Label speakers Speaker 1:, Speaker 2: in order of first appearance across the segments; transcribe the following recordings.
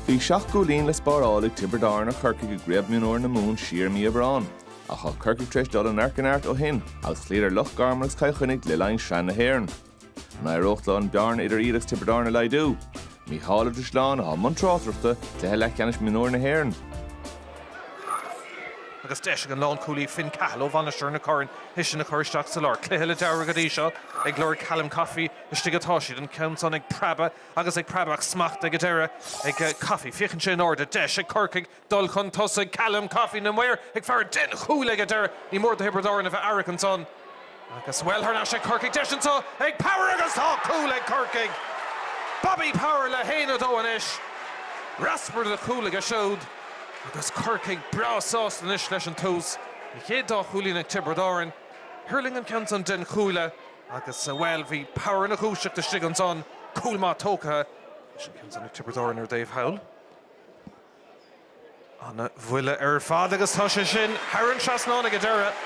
Speaker 1: Bhí seacht gcúilín le spáráil ag Tiobraid Árann ar Chorcaigh i gCraobh Mionúir na Mumhan siar i mí Aibreáin, ach tá Corcaigh tar éis dul ó neart go neart ó shin agus chloíodar Loch Garman agus Cill Chainnigh le linn Shraith na hÉireann. An éireoidh leo an bhearna idir iad agus Tiobraid Árann a laghdú? Mícheál Ó Drisleáin, atá i mbun tráchtaireachta, cluiche leathcheannais mionúir na hÉireann. agus deis ag an lánchúlaí Finn Cahill ó Mhainistir na Corann é sin a chur isteach sa lár. Cluiche láidir go dtí seo ag lorg Callum Coffey. Istigh atá siad, an ceann san ag preabadh agus ag preabadh ach smacht ag an deireadh ag Coffey. Féachann sé in airde. Deis ag Corcaigh dul chun tosaigh. Callum Coffey na maoir ag faire den chuaille ag an deireadh. Ní mór do Thiobraid Árann a bheith aireach ansan agus, bhuel, thar n-ais ag Corcaigh. Deis anseo ag Power agus tá cúl ag Corcaigh! Bobby Power le haon a dó anois. Raspar de chúl aige siúd agus Corcaigh breá sásta anois leis an tús. An chéad dá chúilín ag Tiobraid Árann. Thuirling an ceann san den chuaille. Agus, bhuel, bhí Power ina dhúiseacht istigh ansan, cúl maith tógtha. Leis an gceann san ag Tiobraid Árann ar an dtaobh thall. Ana bhuille ar fad agus tá sé sin thar an trasnán ag an deireadh.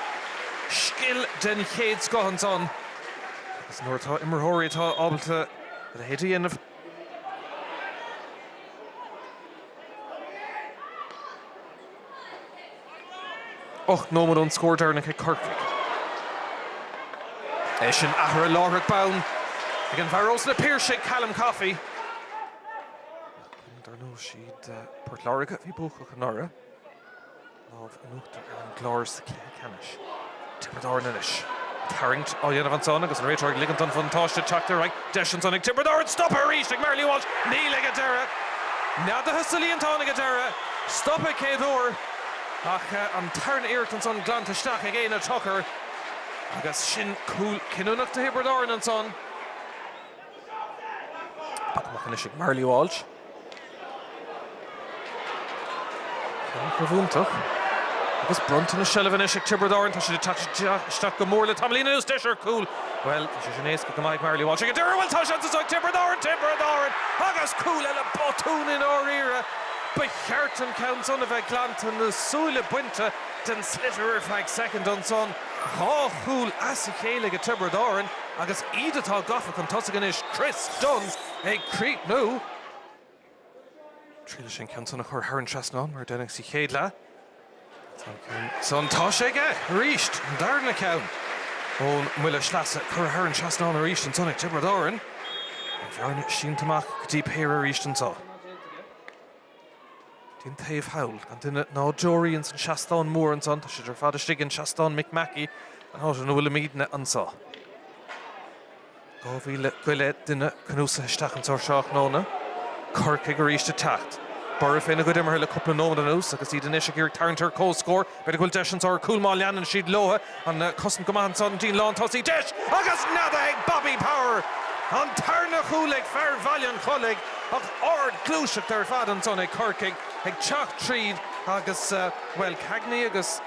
Speaker 1: Scil den chéad scoth ansan. Agus nuair atá imreoirí atá ábalta a leithéid a dhéanamh, Ocht nóiméad ón scór deireanach ag Corcaigh. É sin athraithe láithreach bonn ag an bhfear ós na Piarsaigh, Callum Coffey. Ach dar ndóigh, siad Port Láirge a bhí buacach anuraidh. Lámh in uachtar ar an gClár sa. Ceannais. Tiobraid Árann anois. Tarraingt á dhéanamh ansan agus an réiteoir ag ligint don bhuntáiste teacht ar aghaidh. Deis ansan ag Tiobraid Árann stopadh arís ag Marley Walsh. Níl ag an deireadh. Neadaithe sa líontán ag an deireadh. Stopadh an chéad uair ach an tarna iarracht ansan glanta isteach ag Éanna Tucker agus sin cúl cinniúnach do Thiobraid Árann ansan. Poc amach anois ag Marley Walsh. Caithréim iontach agus bronntanas seilbhe anois ag Tiobraid Árann. Tá siad ag teacht isteach go mór le tamaillín anuas. Deis ar chúl. Bhuel, tá sé sin éasca go maith ag Marley Walsh ag an deireadh. Bhuel, tá seans anseo ag Tiobraid Árann. Tiobraid Árann agus cúl eile. Botún i ndáiríre. Ba cheart an ceann san a bheith glanta, na súile bainte den sliotar ar feadh soicind ansan. Dhá chúl as a chéile ag Tiobraid Árann agus iad atá gafa chun tosaigh anois. Chris Dunne. ag críochnú. Triail leis an gceann san a chur thar an trasnán mar a deineadh sa chéad leath. Tá an ceann san, tá sé aige arís! An darna ceann ón mbuille sleasa, curtha thar an trasnán arís ansan ag Tiobraid Árann. An bhearna sínte amach go dtí péire arís anso. den taobh thall, gan duine ná deoraí insan seastán mór ansan, tá siad ar fad istigh insan Seastán Mick Mackey, an áit ina bhfuilimídne anso. Dhá mhíle go leith duine cnuasaithe isteach anso ar thráthnóna. Corcaigh aríst ag teacht. Borradh féna gcuid imeartha le cúpla nóiméad anuas agus iad anois ag iarraidh tarraingt ar chomhscór. B'fhéidir go bhfuil deis anso ar chúl má leanann siad leotha. An chosaint go maith ansan, an líne lántosaigh. Deis agus neadaithe ag Bobby Power! An tarna chúl ag fear Bhaile an Chollaigh ach ardghluaiseacht ar fad anso ag Corcaigh ag teacht tríd agus, bhuel, Cagney agus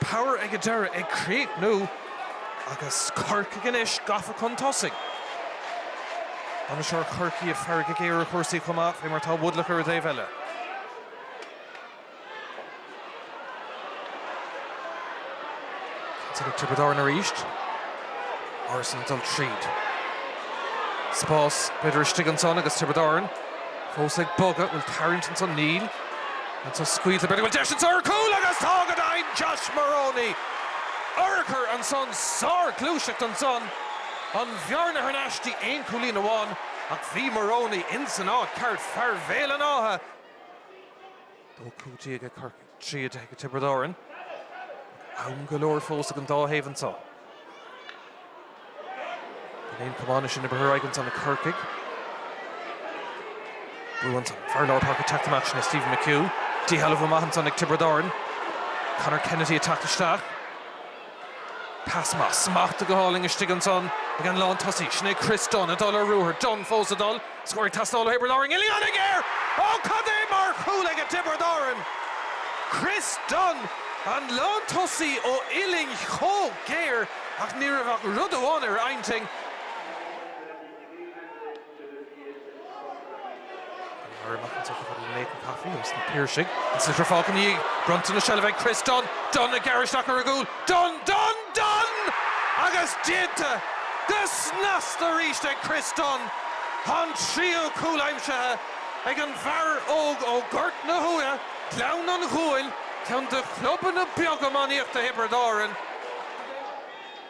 Speaker 1: Power ag an deireadh ag críochnú agus Corcaigh anois gafa chun tosaigh. Bainisteoir Chorcaí ag faire go géar ar chúrsaí chomh maith fé mar tá Woodlock ar an dtaobh eile. Tiocfaidh Tiobraid Árann arís. Ansan ag dul tríd. Spás b'fhéidir istigh ansan agus Tiobraid Árann fós ag bogadh. Bhfuil tarraingt ansan? Níl. Anso scaoilte b'fhéidir bhfuil deis anso ar chúl agus tá go deimhin! Josh Moroney urchar ansan, sárghluaiseacht ansan, an bhearna thar n-ais dtí aon chúilín amháin ach bhí Moroney insan áit cheart, fear Bhéal an Átha. 12 cúilín ag Corcaigh, 13 ag Tiobraid Árann. Am go leor fós ag an dá thaobh anso. An aon chomh maith sin a briseadh aigeansan ag Corcaigh. Brú ansan. Fear lár páirce ag teacht amach sin é Stephen McHugh. Díshealbhú maith ansan ag Tiobraid Árann. Conor Kennedy ag teacht isteach. Pas maith smachtaithe go hálainn istigh ansan ag an lántosaí. Sin é Chris Dunne ag dul ar ruathar. Dunne fós ag dul. Scór ag teastáil ó Thiobraid Árann. Uillinn ana-ghéar! Ó cad é mar chúl aige Tiobraid Árann! Chris Dunne an lántosaí ó uillinn chomh géar ach ní raibh ach rud amháin ar a intinn, Mary McIntyre chun tosaigh le Nathan Coffey agus na Piarsaigh ag saothrú fáilte ina dhiaidh. Bronntanas seilbhe ag Chris Dunne. Dunne ag gearradh isteach ar an gcúl. Dunne, Dunne, Dunne! Agus déanta go snasta arís ag Chris Dunne! Tá an tríú cúl aimsithe ag an bhfear óg ó Ghort na hUamha, Gleann an Ghuail, ceann de chlubanna beaga iománaíochta Thiobraid Árann.